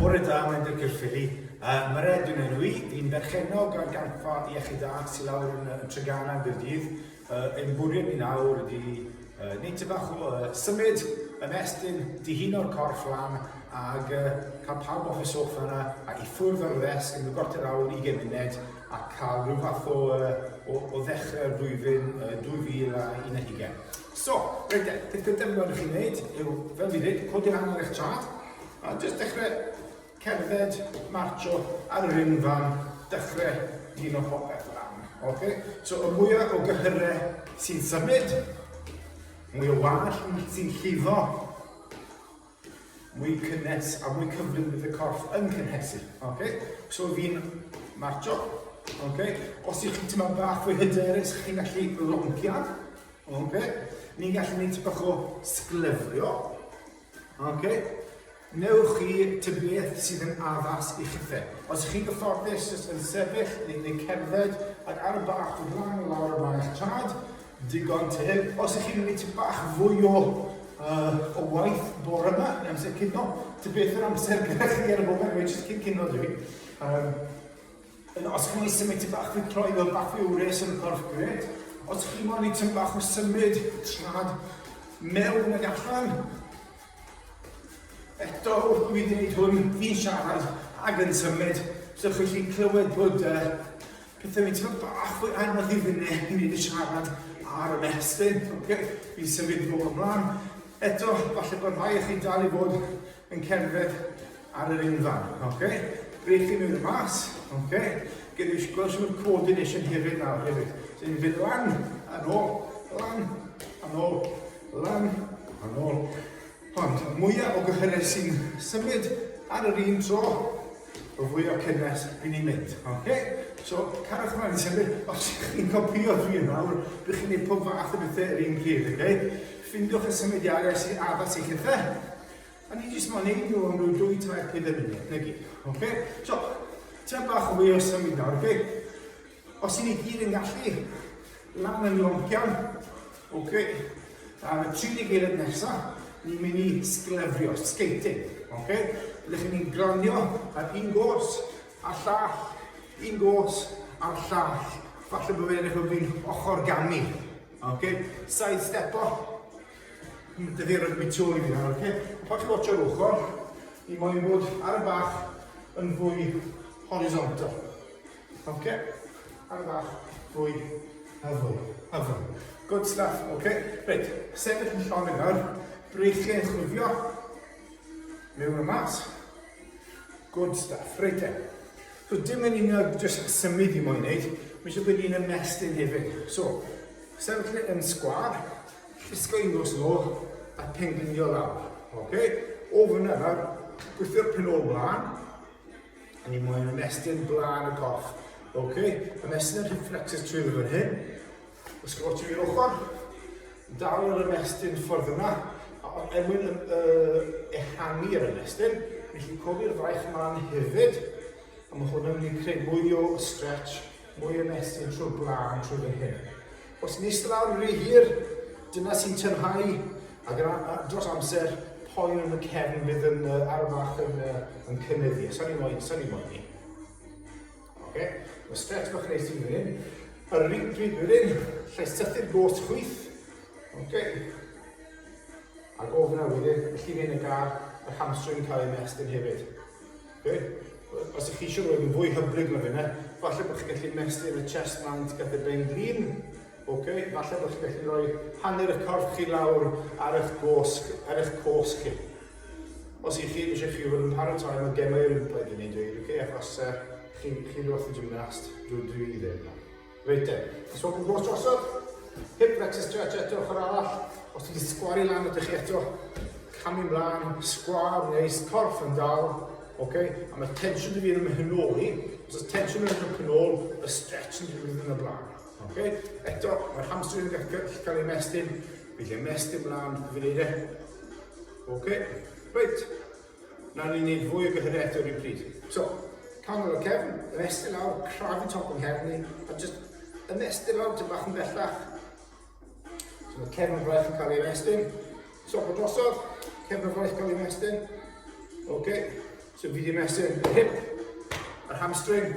Bore da, mae'n Dirk Ffili. Uh, Mae'r edyn yn rwy, i'n berchenog ar ganfa iechyd da sy'n lawr yn, yn Tregana yn Gyrdydd. Uh, ein bwriad ni nawr ydy uh, neud ty bach o uh, symud yn estyn dihun o'r corff lan ag uh, cael pawb off y sofa yna a i ffwrdd o'r ddesg yn y gorter awr i gymuned a cael rhyw fath o, o, o ddechrau'r flwyddyn uh, 2012. So, reit e, peth gyntaf fi'n gweld i chi wneud yw, fel fi ddweud, codi lan ar eich chart, a jyst dechrau cerdded, marcho ar yr unfan, dechrau un o popeth lan. Okay? So, y mwyaf o gyhyrau sy'n symud, mwy o wall sy'n llifo, mwy cynnes a mwy cyflym bydd y corff yn cynhesu. Okay? So fi'n marcho. Okay? Os ych chi'n tyma bach fwy hyderus, chi'n gallu rompio. Okay? Ni'n gallu gwneud bach o sglyfrio. Okay? Newch chi ty beth sydd yn addas i chithe. Os ych chi'n gyfforddus, jyst yn sefyll neu, neu cerdded ac ar y bach o flaen o lawr y mae'ch tad, Digon teg. Os ych chi'n mynd i ti bach fwy o, uh, o waith bore yma, neu amser cino, ti beth yr amser gyda chi ar y foment, mae jyst cyn cino dwi. Um, yn, os chi'n mynd i symud ti bach fwy troi fel bach fwy wres yn y corff, gret. Os chi'n mynd i ti'n bach o symud, trad mewn ag allan. Eto, wrth dwi'n dweud hwn, fi'n siarad ag yn symud, so chi'n clywed bod uh, Pethau fi'n teimlo bach fwy anodd i fyny i wneud y siarad ar y mestyn. Okay. Fi'n symud bob ymlaen. Eto, falle bod rhai o chi'n dal i fod yn cerdded ar yr unfan. Okay. Brechu nhw i'r mas. Okay. Gyda eisiau gweld sy'n coordination hefyd nawr hefyd. So ni'n mynd lan, yn ôl, lan, yn ôl, lan, yn ôl. Ond y mwyaf o gyhyrau sy'n symud ar yr un tro, y fwy o cynnes i ni'n mynd. Okay? So, carwch ymlaen i symud. Os ydych chi'n copio fi yn awr, bych chi'n gwneud pob fath o bethau yr un pryd. Okay? Ffindiwch y symudiadau sy'n addas i chi fe. A ni jyst mo'n ein nhw am rhyw dwy, tair, peder munud, neu gyd. Okay? So, ti'n bach o fwy o symud nawr, okay? Os i ni gyd yn gallu, lan yn loncian. Ok, ar y 30 eilad nesa, ni'n mynd i sglefrio, skating. Ok, ydych chi'n mynd glanio ar un gos, a llall, un gos, a llall. Falle bod fe'n eich fi'n ochr ganu. Ok, side step o. Dydy ar y bitio i fi nawr, ok? Pan chi'n watch ar ochr, ni moyn bod ar y bach yn fwy horizontal. Oce? Ar fach fwy hyfyl. Hyfyl. Good stuff. Oce? Reit, sefyll yn llonydd nawr. Breichiau yn chwifio. Mewn y mas. Good stuff. Reit e. So dim yn un o jyst symud i moyn wneud. Mae eisiau bod un ymestyn hefyd. So, sefyll e yn sgwar. Llusgo i nos yn ôl a penglunio lawr. Oce? O fyna nawr, gwythio'r pen ôl mlaen. A ni moyn ymestyn blaen y corff. Ok, ymestyn y hip flexors trwy fan hyn. Ysgol ti i'r ochr. Dal yr ymestyn ffordd yna. A er mwyn ehangu yr ymestyn, ni chi'n cofi'r fraich yma'n hefyd. A mae hwn yn mynd i creu mwy o stretch mwy o mesur trwy'r gwlân trwy fan hyn. Os yn eistedd lawr rhy hir, dyna sy'n tynhau, ac yn, a, dros amser, poen yn y cefn fydd yn uh, arfach yn, uh, yn cynyddu. Sa'n ni'n moyn, sa'n ni'n moyn ni. Okay? Mae stretch bach neis i hyn. Yr un pryd wedyn, lle sythu'r gos chwyth. Okay. A gofna wedyn, y llif yn y gar, yr hamstring cael ei mestyn hefyd. Be? Os ydych chi eisiau rhoi nhw'n fwy hyblyg na hynna, falle bod chi'n gallu ymestyn y chest mount gath y ben glin. Ok, falle bod chi'n gallu rhoi hanner y corff chi lawr ar eich gosg, ar eich cosg chi. Os ydych chi eisiau chi fod yn paratoi am y gemau Olympaidd i ni dweud, ok, achos uh, chi, chi ddoth y gymnast, dwi, dwi ddim na. Rydym. Os yw'r nos drosodd, hip flexor stretch eto ochr arall, os ti wedi sgwaru lan ydych chi eto, camu mlaen, sgwar neis, corff yn dal, ok, a mae tensiwn wedi mynd yn ôl i, os oes tensiwn yn mynd yn ôl, y stretch yn mynd yn y blaen, ok, eto, mae'r hamstring yn gallu cael ei mestyn, bydd ei mestyn mlaen, bydd ei ok, reit, Nawn ni neud fwy o gyhyre eto rywpryd. So, canol lawr cefn, ymestyn lawr, crafu top yng nghefn ni, a jyst ymestyn lawr tyn bach yn bellach. So mae cefn y fraich yn cael ei ymestyn. Top o drosodd, cefn y fraich cael ei ymestyn. Oce, okay. so fi wedi ymestyn yr hip, yr hamstring,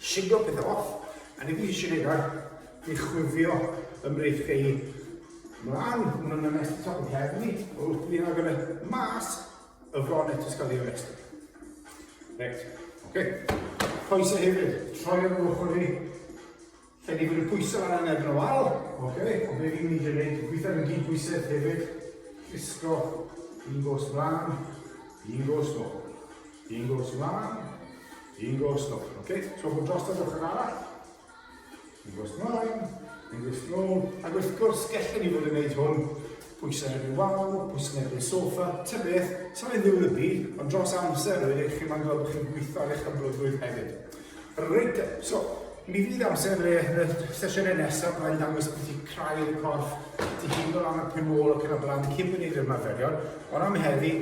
Shiglo pethau off, a ni wedi siarad i chwifio ym mrif chi mlaen, hwn yn ymwneud â top y heddlu, o wrth ni agor y mas, y fron eto sgol i'r rest. Reit, oce. Coesau hefyd, troi ar ochr i, Fe nifer y pwysau fan hyn erbyn y wal. Ok, ond be fi'n mynd i wneud, dwi'n gweithio yn gyd pwysedd hefyd. Llusgo, un gos mlaen, un gos nôl. Un gos mlaen, un gos nôl. Ok, so bod dros yr ochr arall. Un gos mlaen, un gos nôl. Ac wrth gwrs, gellwn ni fod yn gwneud hwn pwysau heb ei wal, pwysau heb ei sofa, ty beth, sa'n mynd ddiwlybu, ond dros amser, rwy'n eich chi'n ma'n gweld bod chi'n gweithio ar eich hyblygrwydd hefyd. Reit, so, mi fydd amser y, y sesiynau nesaf yma i ddangos beth i craidd y corff, ti hyn o ran y penol ac yn y blaen, cyn mynd i'r ymarferion, ond am heddi,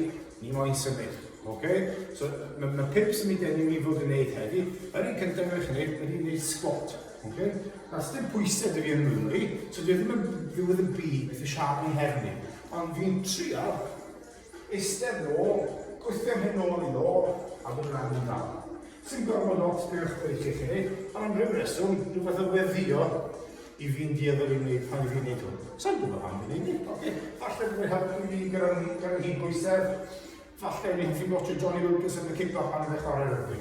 ni moyn symud. Okay? So, mae ma pimp sy'n mynd enw i fod yn neud heddi. Yr un cyntaf mae'n chynnig ydy wneud sgwat. Okay? Na, sy'n pwysau dwi yn Nghymru, so dwi ddim yn ddiwedd y byd beth y siarad yn herni. Ond dwi'n trio Eistedd yn ôl, gwythio'n hyn nôl i nôl, a bod yn annibynnol. Sim gormod o ots beth ydych chi'n credu, ond am ryw reswm, rhywbeth yn weddio i fi'n dueddol i wneud pan i fi'n neud hwn. Sa'n gwybod pam fi'n neud hyn, oce? Falle bod yn helpu fi gyda'r gyda hyd bwysedd, falle fi'n ti'n watcho Johnny Lucas yn y cip pan i'n chwarae rygbi.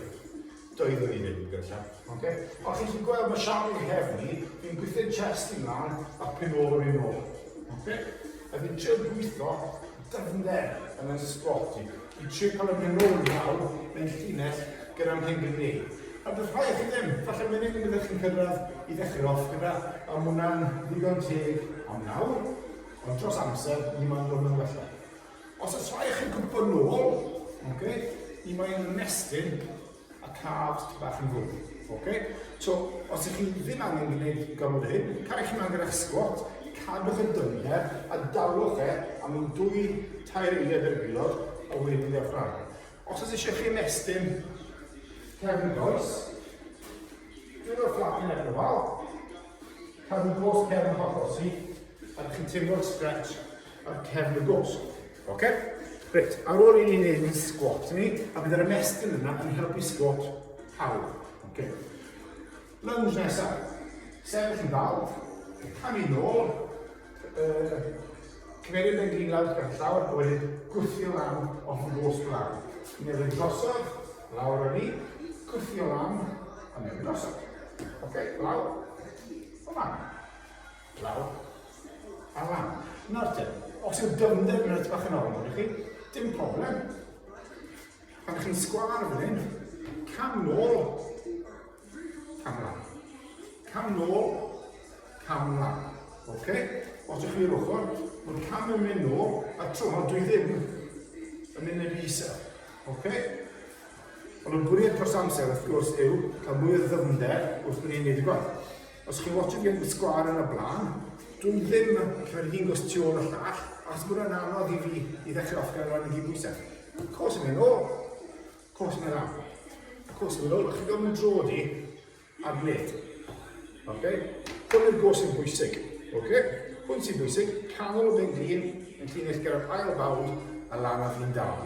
Doeddwn i ddim yn gyllell. Oce? Os chi'n gallu gweld, mae siap yn nghefn i, fi'n gwythu'r chest i mlaen a pum ôl yr un ôl. Oce? A fi'n trio gweithio dyfnder yn y sbot i. Fi'n trio cael y mynd ôl nawr mewn llinell gyda'r hyn dwi'n gwneud. A does rhai chi ddim, falle mae'n un gyda chi'n cyrraedd i ddechrau off gyda, a mwna'n ddigon teg am nawr, ond dros amser, ni mae'n dod yn wella. Os oes rhai chi'n gwybod nôl, okay, i mae yn ymestyn a calves ti bach yn fwy. Okay? So, os ych chi ddim angen gwneud gormod o hyn, cael chi'n angen eich sgwat, cadwch y dynged a dalwch e am un dwy tair eiliad yr aelod o wedyn y ffrag. Os oes eisiau chi ymestyn cefn y goes, dwi'n o'r ffrag yn efo'r wal, cadw gos cefn y hocos i, a chi'n teimlo'r stretch ar cefn y gosg. Oce? Reit, ar ôl i ni wneud yn sgwat ni, a bydd yr ymestyn yna yn helpu sgwat pawb. Oce? Lunge nesaf. Sefyll yn dal, camu nôl, uh, cymeryd yn glin lawr gyda llawr, a wedyn gwthio lan off y gosg lan. Newid drosodd, lawr ar ni, gwthio lan, a newid drosodd. Oce, lawr, o lan. Glaw. A lan. Nawr te, os yw dyfnder yn reit bach yn ofn gyda chi, dim problem. Pan chi'n sgwar fan hyn, cam nôl, cam lan. Cam nôl, cam lan. Oce? Okay? Os ydych chi'r ochr, mae'r cam yn mynd nôl, a tro hwn dwi ddim yn mynd yn isa. Oce? Okay? Ond y bwriad dros amser, wrth gwrs, yw cael mwy o ddyfnder wrth bod ni'n gwneud y gwaith. Os chi'n watshio gêm y sgwâr yn y blaen, dwi ddim yn credu fi'n gwrs tu ôl y llall, achos bod e'n anodd i fi i ddechrau off gyda'r rhan i gyd bwysau. Cos yn mynd ôl, cos yn mynd am, cos yn mynd ôl, chi'n gofyn drod i ar bled. Ok? Hwn yw'r gos yn bwysig. Ok? Hwn sy'n bwysig, canol y ben glin, yn llinell gyda'r ail fawd a lan ar fi'n dal.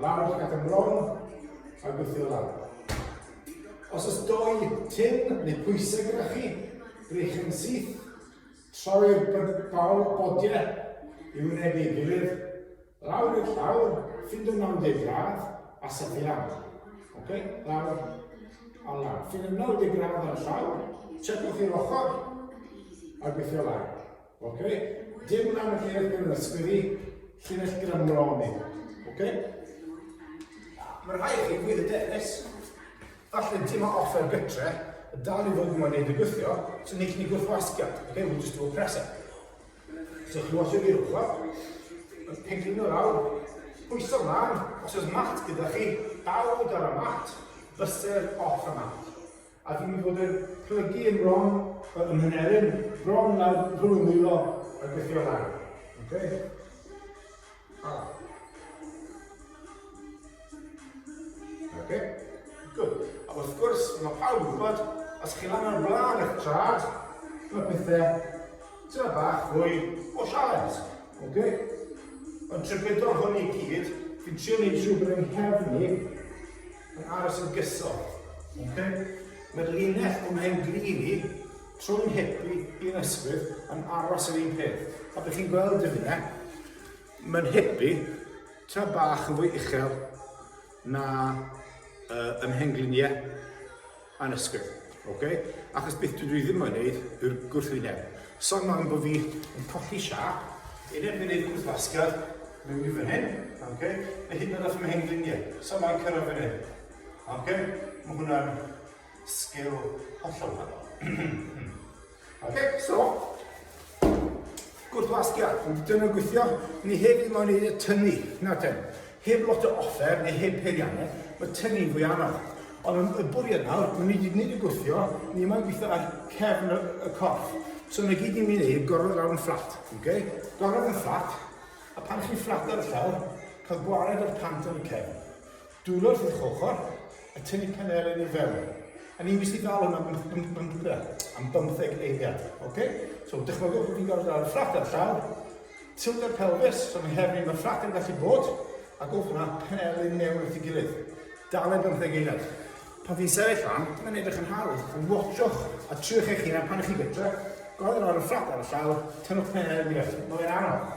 Lawr ac ymlawn, a gweithio lawr. Os oes dou tin neu pwysau gyda chi, brych yn syth, troi'r bawl bodiau i wynebu ei gilydd, lawr i'r llawr, ffind o 90 gradd, a sychu lan. Ok, lawr a lan. Ffind o 90 gradd ar y llawr, checwch i'r ochr, a gweithio lan. Ok? Dim rhan y llinell gyda'r ysgwydd i, llinell gyda mron i. Ok? Mae rhai chi fydd y dewis, falle dim o offer gytre, y dal i fod yn wneud y gwythio, so ni chi'n gwythio asgiad, ok? We'll just do a presser. So chi'n watch it i'r ochr, yn pingin o lawr, pwyso mlaen, os oes mat gyda chi, dal o gyda'r mat, byser off y mat. A dwi 'di bod yn plygu yn wrong yy ym Mheneryn, wrong nawr rhwng y nwylo a gwthio lan. Oce? A. Oce? Good. A wrth gwrs, mae pawb yn gwybod, os chi lan ar flaen eich trad, mae pethe tyna bach fwy o sialens. Oce? Ond trwy gydol hwn i gyd, fi'n trio neud siŵr bod yng nghefn i, Yn aros yn gyson. Okay. Mae'r linell o flaen grin i, trwy'n hip i, i'n ysgwydd, yn aros yr un peth. A bych chi'n gweld yn yna, mae'n hip i, ta bach yn fwy uchel na uh, ymhengliniau. annisgwyl. Ok? Achos beth dydw i ddim yn neud yw'r gwrthwyneb. So mam bod fi yn colli siap, yn erbyn neud cwrs basged, mewn i fan hyn, ok? Neu hyd yn oed os mae hen gliniau, so mae'n cyrraedd fan hyn. Ok? Mae hwnna'n sgil hollol wahanol. Ac eto, gwrthwasgiad, ond dyna yn gweithio, ni heb ddim ond y tynnu, na ten. Heb lot o offer, neu heb peiriannau, mae tynnu'n fwy anodd. Ond yn y bwriad nawr, mae ni wedi gwneud y gwthio, ni yma'n gweithio ar cefn y, y corff. So na gyd ni'n mynd i wneud, gorfod lawr yn fflat, okay? gorfod yn fflat, a pan chi'n fflat ar y llawr, cael gwared o'r pant yn y cefn. Dwylo'r sydd chochr, a tynnu panelyn i fewn. A ni'n mynd i gael hwnna am, am, am, am bymtheg eiliad. Okay? So, dychmygwch bod fi'n gorfod ar y ffrac ar llaw, tilder pelfis, so mae her ni'n fy ffrac yn gallu bod, a gof hwnna panelyn mewn at ei gilydd. Dale bymtheg eiliad. Pan fi'n sefyll fan, mae'n edrych yn hawdd, ond watchwch a triwch eich hunan pan ych chi gytre, gofyn ar y ffrac ar y llaw, tynnwch panelyn i fewn. Mae'n anodd.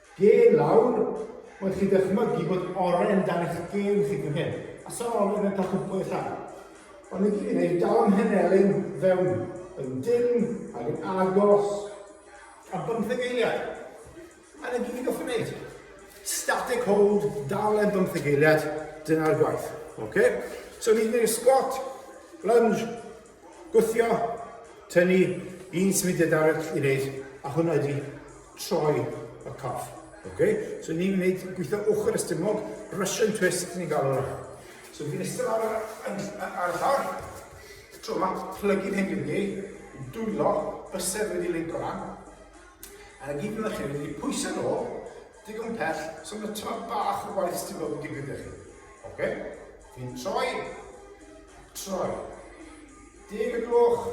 Gêm lawr, oedd chi'n dychmygu bod oren dan eich gêm chi fan hyn, a sa'r oren yn cael cwmpo i'r llai. Ond i fi, neu dawn Mhenelin fewn yn dim ac yn agos am bymtheg eiliad. A na gyd i goffi wneud. Static hold, dal e'n bymtheg eiliad, dyna'r gwaith. Okay? So ni'n gwneud squat, lunge, Gwthio, tynnu un symudiad arall i wneud, a hwnna ydi troi y coff. Okay? So ni'n gwneud gweithio ochr ystumog, Russian twist ni'n galw hwnna. So fi'n eistedd ar, ar, ar y llawr, tro yma, plygu'n hyn dwi'n ei, yn dwylo, bysedd wedi linco lan, Ar y gig ma chi mynd i pwyso nôl digon pell so ma tymed bach o waith sy'n bod yn digwydd da chi. Oce? Fi'n troi, troi. Deg y gloch,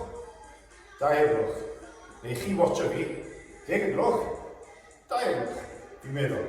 dau y gloch. Neu chi watcho fi, deg y gloch, dau y gloch. Fi'n meddwl.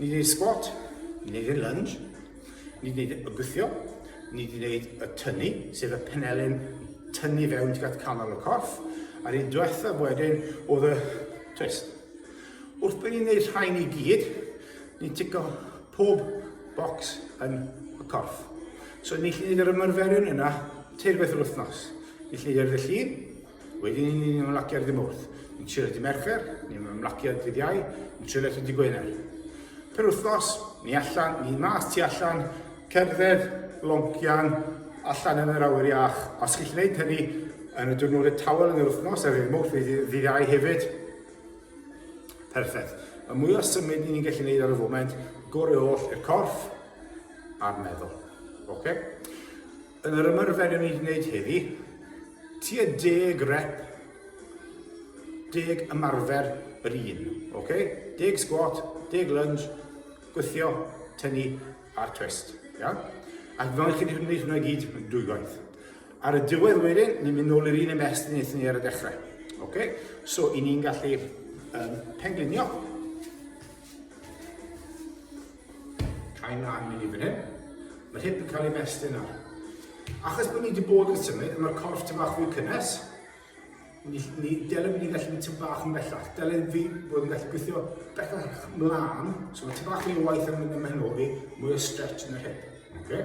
Ni wneud sgwat, ni wneud y lunge, ni wneud y gwthio, ni wneud y tynnu, sef y penelyn tynnu fewn tuag at canol y corff, a'r un diwethaf wedyn oedd y twist. Wrth bod ni'n gwneud rhain i gyd, ni'n tico pob bocs yn y corff. So ni'n gallu gwneud yr ymarferion yna teir beth yr wythnos. Ni'n gallu gwneud yr llun, Wedyn ni'n ni'n ymlacio ar ddymwrth, ni'n trio dy mercher, ni'n ymlacio ar ddydd iau, ni'n trio eto dy gwener. Per wythnos, ni allan, ni mas tu allan, cerdded, loncian, allan yn yr awyr iach. Os chi'n gwneud hynny yn y diwrnodau tawel yn yr wythnos, ar ddymwrth, ddydd iau hefyd, perffaith. Y mwy o symud ni'n gallu gwneud ar y foment, gorau oll i'r corff a'r meddwl. Okay? Yn yr ymarfer yn ei wneud heddi, tua deg rep, deg ymarfer yr un, ok? Deg squat, deg lunge, gwythio, tynnu a'r twist, ia? Ac fel chi wedi gwneud hwnna gyd dwy gwaith. Ar y diwedd wedyn, ni'n mynd nôl i'r un ymest yn eithon ni ar y dechrau, ok? So, i ni'n gallu um, penglunio Cau mlaen mynd i fan hyn. Mae'r hip yn cael ei mestyn nawr. Achos bod ni wedi bod yn symud, mae'r corff tyn bach fwy cynnes. Ni, ni, dylem ni gallu mynd tyn bach yn bellach. Dylem fi bod yn gallu gweithio bellach mlaen. So mae tyn bach fwy o waith yn mynd ymhen o fi, mwy o stretch yn yr hip. Okay?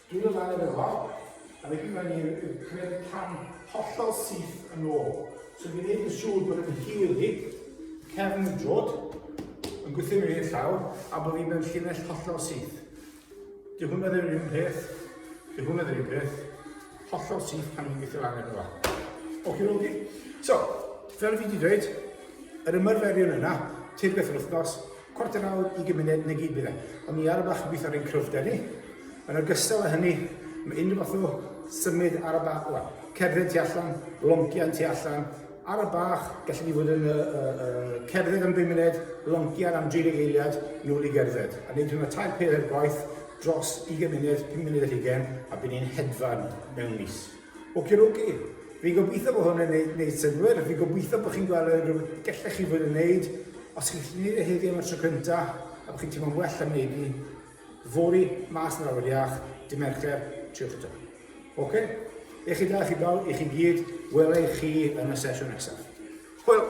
Dwi o dan y fela, a felly mae'n ei gwneud y cam hollol syth yn ôl. So fi'n gwneud yn siŵr bod yn hir i cefn y drod, yn gweithio mewn i'r llaw, a bod fi'n mewn llinell hollol syth. Dy hwnna ddim yn un peth, dy hwnna ddim yn un peth, hollol syth pan fi'n gweithio lan efo. Oce, oce. So, fel fi wedi dweud, yr ymarferion yna, teir beth yr wythnos, Chwarter awr i gymuned neu gyd byddai. Ond ni ar y bach yn gweithio ar ein cryfder ni. Yn ogystal â hynny, mae unrhyw fath o symud ar y bach, wel, cerdded tu allan, loncian tu allan, ar y bach, gallen ni fod yn uh, uh, cerdded am 5 munud, loncian am 30 eiliad, nôl i gerdded. A wneud hwnna tair peth ar gwaith dros 20 munud, 5 munud ar hugen, a bydd ni'n hedfan mewn mis. Oki doki, fi'n gobeithio bod hwn yn neud, neud synwyr, fi'n gobeithio bod chi'n gweld unrhyw beth gellech chi fod yn neud, os chi'n gallu neud e heddi am y tro cynta, a bod chi'n teimlo'n well am neud ni, fori, mas yn awyr iach, dim ercher, triwch eto. Oce? Okay? Eich chi da, chi bawb, i chi gyd, wela i chi yn y sesiwn nesaf. Hwyl!